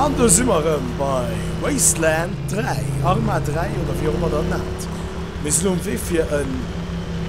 An do si mer erëm bei Wasteland 3, Arma 3 oder wéi och ëmmer dat nennt. Mir sinn um Wee fir en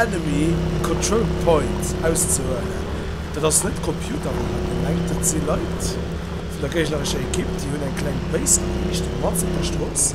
Enemy Control Point auszehuelen. Dat ass net Computer mat deenen ech mengt. Dat si Leit vun der géignerescher Ekipp, déi hunn eng kleng Base geriicht, matz op der Strooss.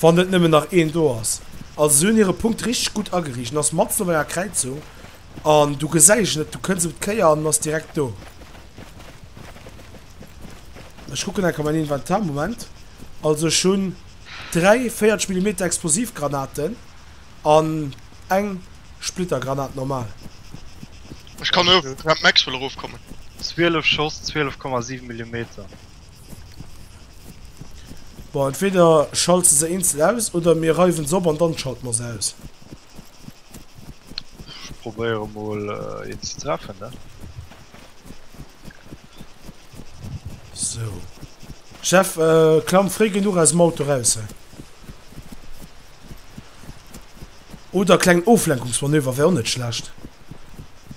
Wann net nëmmen nach een do ass. Also se hunn hire Punkt richteg gutt ageriicht. En ass matzen op enger Kräizung an du gesäis en net. Du kënns op d'Kéier an en ass direkt do. Ech kucken enker mäin Inventar, Moment. Also ech hunn dräi 40 Millimeter Explosivgranaten an eng Splittergranat normal. Ech kann och mat Max-Well erofkommen. 12 Schoss, 12,7 Millimeter. Bon, entweder schalts de se eenzel aus oder mir reiwen se op an dann schalte mer se aus. Ech probéieren mol een ze treffen ne. Sou Jeff, klamm fréi genuch aus dem Auto raus he. Oder kleng Oflenkungsmanöver wär och net schlecht.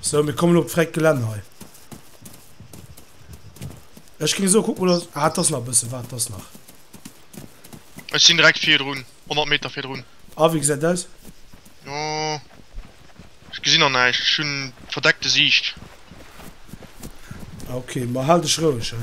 So, mir kommen op d'fräit Gelänn hei. Ech ging so gucken, dass... Ah, das nach ein bisschen, warte, das nach. Ech sinn direkt vir drun, 100 Meter vir drun. Ah, wie gesäit aus? Jo. Ech gesinn an näischt, ech hunn verdeckte Siicht. Ah, okay, ma hal dech roueg, he?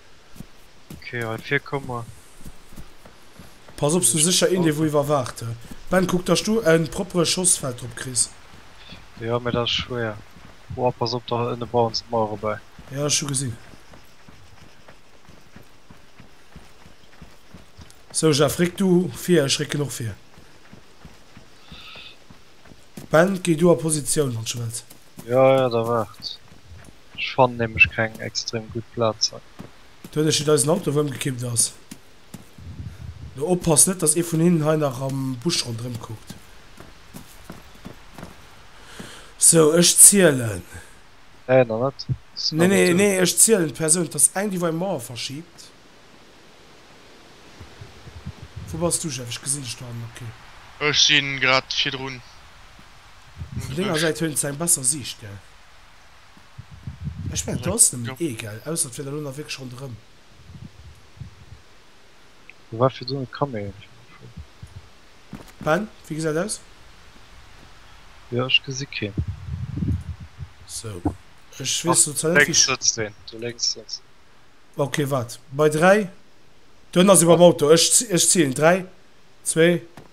Ok hei vir komm mer. Pass op sou secher een dee wou iwwerwaacht. Ben kuck dass du en proppere Schoss Feld drop kriss. Jo mee dat ass schwéier. Woah pass op do ënne bauen se d'Mauer erbäi. Jo ech hu gesin. Sou Jeff réck du vir ech récken och vir. Ben géi du a Positioun wann sche wells. Jo jo da waart. Ech fannen nämlech keng extrem gudd Platzen. Do huet ech et eisen Auto wou emgekippt ass do oppass net dass ee vun hinnen hei nach am Busch rondrem kuckt sou ech zielen Nee nach net sinn nach net do. Nee ech zielen d'Persoun dass eng déi wou eng Mauer verschiebt Wou bass du Jeff ech gesinn dech do hannen ok. Ech sinn grad virdrun um Vun denger Busch. Säit hunn se eng besser Siicht gell. Ech mengen do ass nëmmen ee gell, ausser et wier der elo nach wierklech ronderëm. Do war virdru net Kaméier fir de Fun. Ben, wéi gesäit aus? Jo, ech gesi keen. Sou, ech weess lo zwar net wéi. Lénks sëtzt een, do lénks sëtzt een. Ok, waart, bei 3, do hënn ass ee beim Auto, ech ech zielen, 3, 2.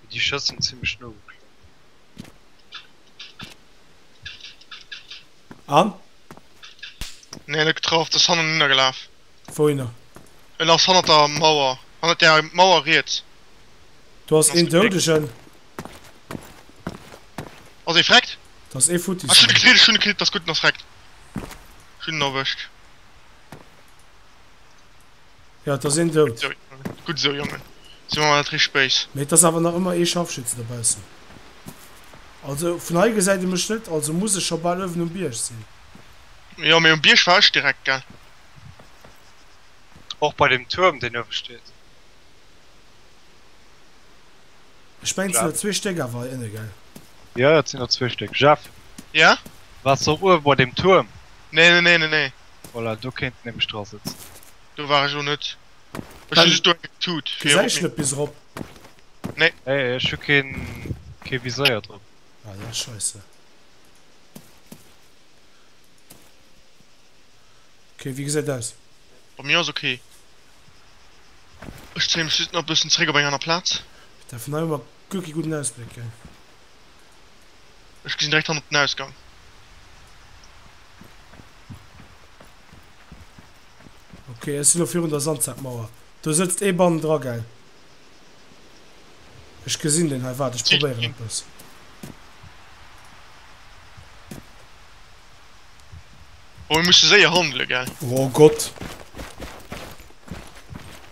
Mee déi Schëss sinn zimmlech no geklongen. An? Nee, net getraff. Dës hannen hinner gelaf. Wouhinner? En ass hannert der Mauer. Hannert där Mauer riets. Do ass een Doudegen. Ass ee vreckt? Dat ass ee futti. Ech hunn e kritt, ech hunn e kritt. Ass gutt, en ass vreckt. Ech hunn en erwëscht. Ja, et ass een dout. Gutt esou, Jongen. Si mer mol net richteg béis. Mee et ass awer nach ëmmer ee Scharfschütze dobaussen. Also, vun hei gesäit ee mech net, also muss ech scho bal uewen um Bierg sinn. Jo, mee um Bierg war ech direkt, gell? Och bei deem Tuerm, deen uewe steet. Ech mengen, et sinn der zwee Stéck awer hei ënne, gell? Jo, jo, et sinn der zwee Stéck. Jeff? Jo? Waars de och uewe bei deem Tuerm? Nee, nee, nee, nee, nee. Voilà, do kéint en nämlech dra sëtzen. Do war ech och net. Ech hunn just do eng Tut fir erop mir. Bis erop. Nee. Nee, ech hu keen. Kee Viséier drop. Ah ja, Scheisse. Okay, wéi gesäit aus? Bei mir ass ok. Ech zéie mech just nach e bëssen zréck op eng aner Plaz. Putain, vun hei hu mer guer kee gudden Ausbléck, gell? Ech gesinn direkt hannert den Ausgang. Okay, ech sinn lo virun der Sandsackmauer. Do sëtzt ee bannendra, gell? Ech gesinn deen hei. Waart, ech probéieren eppes. Oh, mir musse séier handele, gell? Oh Gott!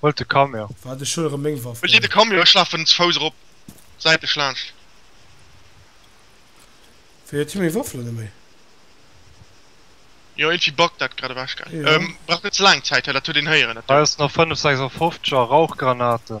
Huelt de Camion. Waart, ech huel erëm meng Waff. Huelt dir de Camion, ech lafen ze Fouss erop säitlech laanscht. Wéi, huet hie meng Waff elo net méi? Jo, iergendwéi buggt dat grad ewech, gell? Jo. Brauch net ze laang Zäit, dat huet een héieren. Hei ass nach 556 a Rauchgranaten.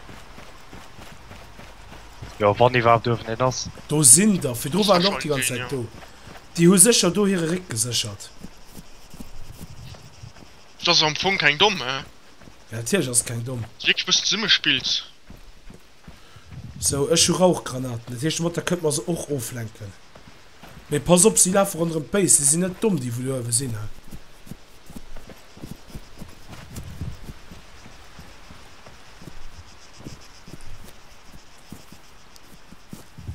Jo wann iwwerhaapt uewen een ass. Do sinn der, fir do waren der och déi ganz Zäit do. Déi hu sécher do hire Réck geséchert. Dat ass am Fong keng domm, hä? Jo natierlech ass et keng domm. Ass wierklech e bëssen Summespiels. Sou ech hu Rauchgranaten, dat heescht de Motta kënnt mer se och oflenken. Mee pass op, si lafe ronderëm d'Béis, si sinn net domm, déi wou do uewe sinn, he.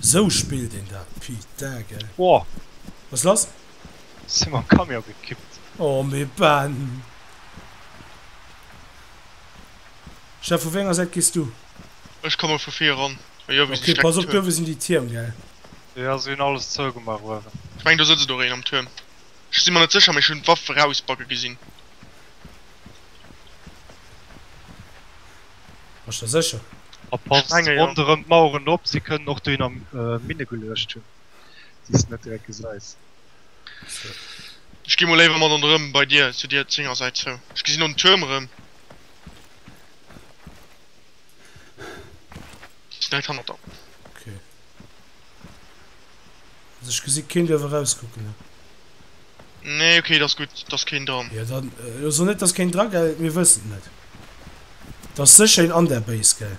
Sou spillt een dat, pitague. Woa! Wat ass lass? Sinn mam Camion gekippt. Oh mee Ben! Jeff, vu wéi enger Säit gees du? Ech komme vu vir eran. Ok, pass op, duerwe sinn déi Tierm, gell? Jo, se hunn alles zougemaach uewen. Ech mengen do sëtzt och een am Tuerm. Ech si mer net sécher, mee ech hunn d'Waff erausbacke gesinn. Bass der sécher? A pass ronderëm d'Maueren op, se kënnen och dohinner Minne geluecht hunn, déi s de net direkt gesäis. Ech gi mol léiwer mat an de Rëmm bei dir, zu dir zénger Säit zou. Ech gesi no den Tuerm erëm. Direkt hannert der. Okay. Also ich gesi keen dierf erauskucken ne? Nee okay das gut das keen dran. Ja dann äh, also net dass keen dran gell, mir wëssen net. Das sécher een an der Base gell.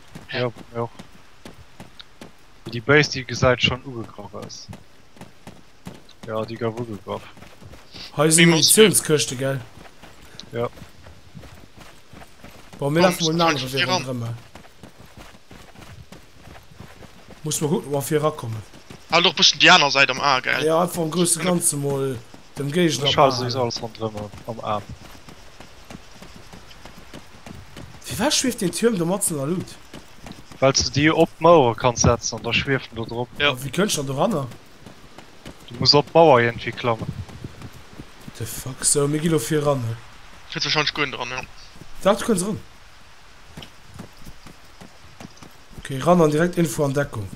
Jo, bei mir och. Wéi déi Béis déi gesäit schonn ugegraff aus. Jo, déi gouf ugegraff. Hei sinn Munitiounskëschte, gell? Jo. Bon, mir lafe mol en anere Wee ronderëm mol. Muss mol kucken, ob mer fir erakommen. Behal och e bëssen déi aner Säit am A, gell? Jo, einfach am grousse Ganze mol. Dem Geescht am Aen. Ech hale souwiss alles ronderëm am Aen. Firwat schwieft deen Türm do matzen der Luut? Wells de déi op d'Mauere kanns setzen an da schwieft en do drop. A wéi kënnst der doranner? Du muss op d'Mauer iergendwéi klammen. The fuck? Sou, mir gi lo fir eran, hä? Kriss wahrscheinlech guer net eran, jo. Dach, du kënns eran. Okay ran an direkt Info an Deckung.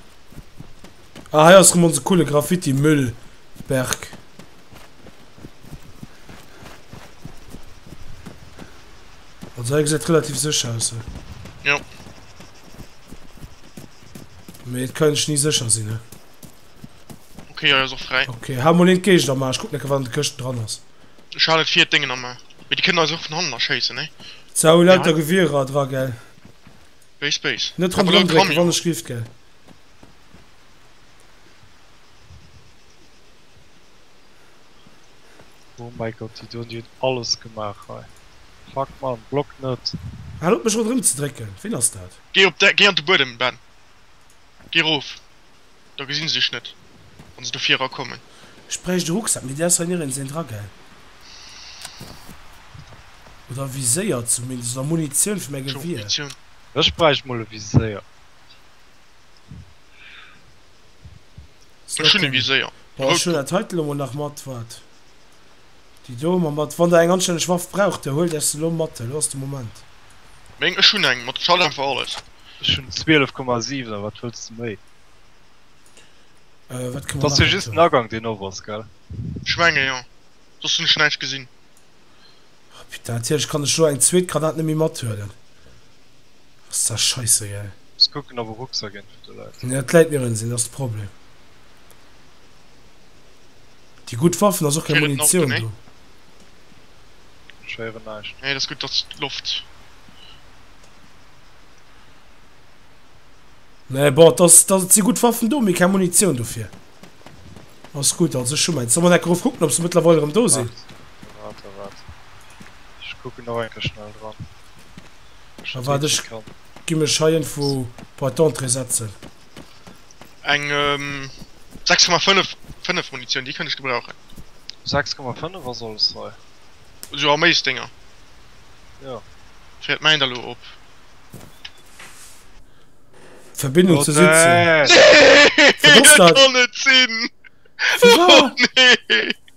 Ah hei ass rem onse coole Graffiti Müllberg. Also hei gesäit relativ sécher aus he. Jo. Mee et kann ech ni sécher sinn he. Okay hei ass och fräi. Okay hau mol een d'Géigend am A, ech kuck necker wat an de Këschten dran ass. Ech halen vir d'Déngen am A. Mee déi kënnen eis och vun hannen erschéissen he. Zou lauter Gewierer dra gell. Béis béis. Net rëm dran drécken wann ech lift gell. Oh mein Gott déi doen déi hun alles gemach hei fuck man block net. Hal op mech rondrem ze drécken ween ass dat. Gei op de gei an de Buedem Ben. Gi rof, da gesi se dech net, wa se do vira kommen. Ech bräicht e Rucksak, mee dee ass hei nirgends een dra, gell? Oder e Viséier zumindest, oder Munitioun fir mäi Tjo, Gewier. Munitioun. Ech bräicht mol e Viséier. Ech hunn e Viséier, e Boah, ech huelen routen. dat heiten elo mol nach mat, wat? Déi do emmer mat. Wann der eng anstänneg Waff braucht, da huelt äech se lo mat. Elo ass de Moment. Meng, ech hunn eng mat Schaden fir alles. Ech hunn 12,7 a wat wëlls de méi? Wat kann man nach? Ass jo just den Agang deen op ass, gell? Ech menge jo, soss hunn ech näischt gesinn. Putain, natierlech kann ech elo eng zweet Granat net méi mathuelen. Ass dat scheissegal. Muss kucken ob e Rucksack een fir de läit. Nee, et läit nirgends een, dat ass de Problem. Déi gutt Waffen, ass och keng Munitioun do. Ech héieren näischt. Nee, dat ass gutt, datt d'Loft. Nee, bon, et si gutt Waffen do, mee keng Munitioun dofir. Alles gudd, also ech hu mäins. Soll mer neck erof kucken op se mëttlerweil erëm do sinn? Waart, waart, waart. Ech kucken nach eng Kéier schnell dran. Da waart, ech gi mech hei iergendwo bei d'Entrée setzen. Eng 6,5 5 Munitioun, déi kënnt ech gebrauchen. 6,5 ass alles hei. Esou Arméisdénger? Jo. Fäert mäin da lo op? Verbindung zu Sitzen. Wie war dat?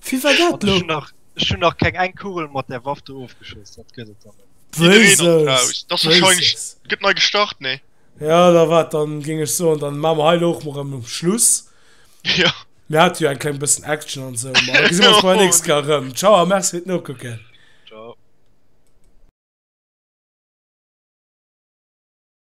Wie war dat lo? Ech hun nach keng eng Kugel mat der Waff do ofgeschoss, dat gëtt et dann net. Wéises? Gëtt nei gestart, nee? Jo, da waart, da géing ech soen, da maa mer hei lo och mol rem um Schluss. Mir hate jo eng kleng bëssen Action an esou, ma da gesi mer ons bei der nächst Kéier rem. Tschau a merci fir d'Nokucken.